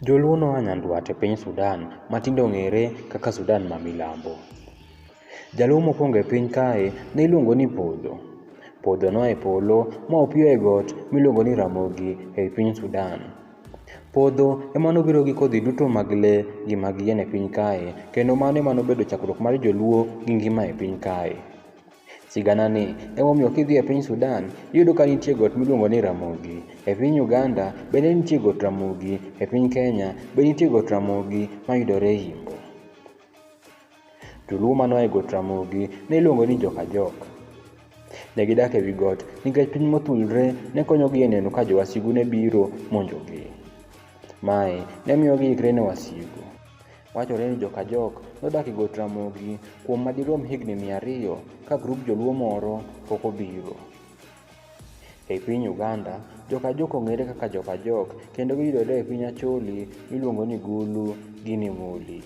Joluo noa nyandwat e piny Sudan ma tinde ong'ere kaka Sudan ma milambo. Jaluo mokwongo e piny kae ne iluongo ni Podho. Podho noa e polo ma opiyo e got miluongo ni Ramogi e i piny Sudan. Podho ema nobiro gi kodhi duto mag le gi mag yien e piny kae kendo mano ema nobedo chakruok mar joluo gi ngima e piny kae. Sigana ni emomiyo kidhi e piny Sudan iyudo ka nitie got miluongo ni Ramogi. E piny Uganda bende nitie got Ramogi, e piny Kenya be nitie got Ramogi mayudore Imbo. Joluo mane oa e got Ramogi ne iluongo ni Jokajok. Ne gidak e wi got nikech piny mothulre ne konyogi e neno ka jowasigu ne biro monjogi. Mae ne miyo giikre ne wasigu. Wachore ni Jokajok nodak e got Ramogi kuom madirom higni mia ariyo ka grup joluo moro pok obiro. E piny Uganda, Jokajok ong'ere kaka Jokajok kendo giyudore e piny Acholi miluongo ni Gulu gi Nimuli.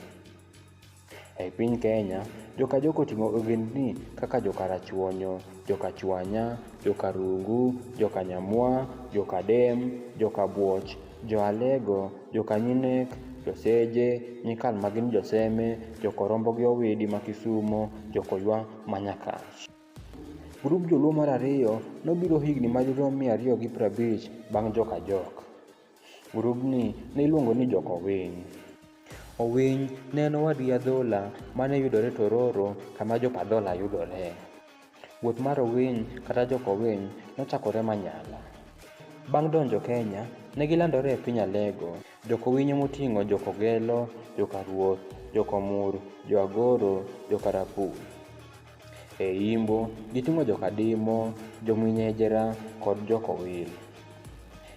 E piny Kenya, Jokajok oting'o ogendni kaka Jokarachuonyo, Jokachwanya, Jokarungu, Jokanyamwa, Jokadem, Jokabwoch, Jo-Alego, jo-Kanyinek, jo-Seje, Nyikal ma gin jo-Seme, jo-Korombo gi Owidi ma Kisumo, jo-Koywa ma Nyakach. Grup Joluo mar ariyo nobiro higni madirom mia ariyo gi prabich bang' Jokajok. Grubni ne iluongo ni Jokowiny. Owiny ne en owadgi Adhola ma ne yudore Tororo kama Jopadhola yudoree. Wuoth mar Owiny kata Jok Owiny nochakore Manyala. Bang' donjo Kenya, ne gilandore e piny Alego. Jok Owinyo moting'o Jok Ogelo, Jok Aruoth, Jok Omur, Jo Agoro, Jok Arapu. E Imbo, giting'o Jok Adimo, Jo Mwinyejera kod Jok Owil.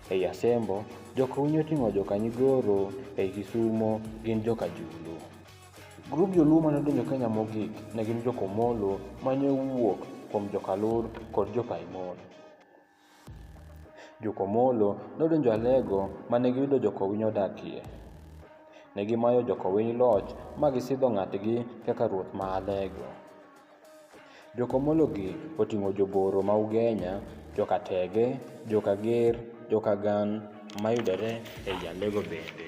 Ei Asembo, Jok Owinyo oting'o Jok Anyigoro, ei Kisumo gin Jok Ajulu. Grup joluo mane odonjo Kenya mogik ne gin jokomolo mane owuok kuom jokalur kod jokaimon. Jokomolo nodonjo Alego mane giyudo jokowiny odakie. Ne gimayo jokowiny loch ma gisidho ng'atgi kaka ruoth ma Alego. Jokomologi oting'o joboro ma Ugenya, jokatege, jokager, jokagan mayudore ei Alego bende.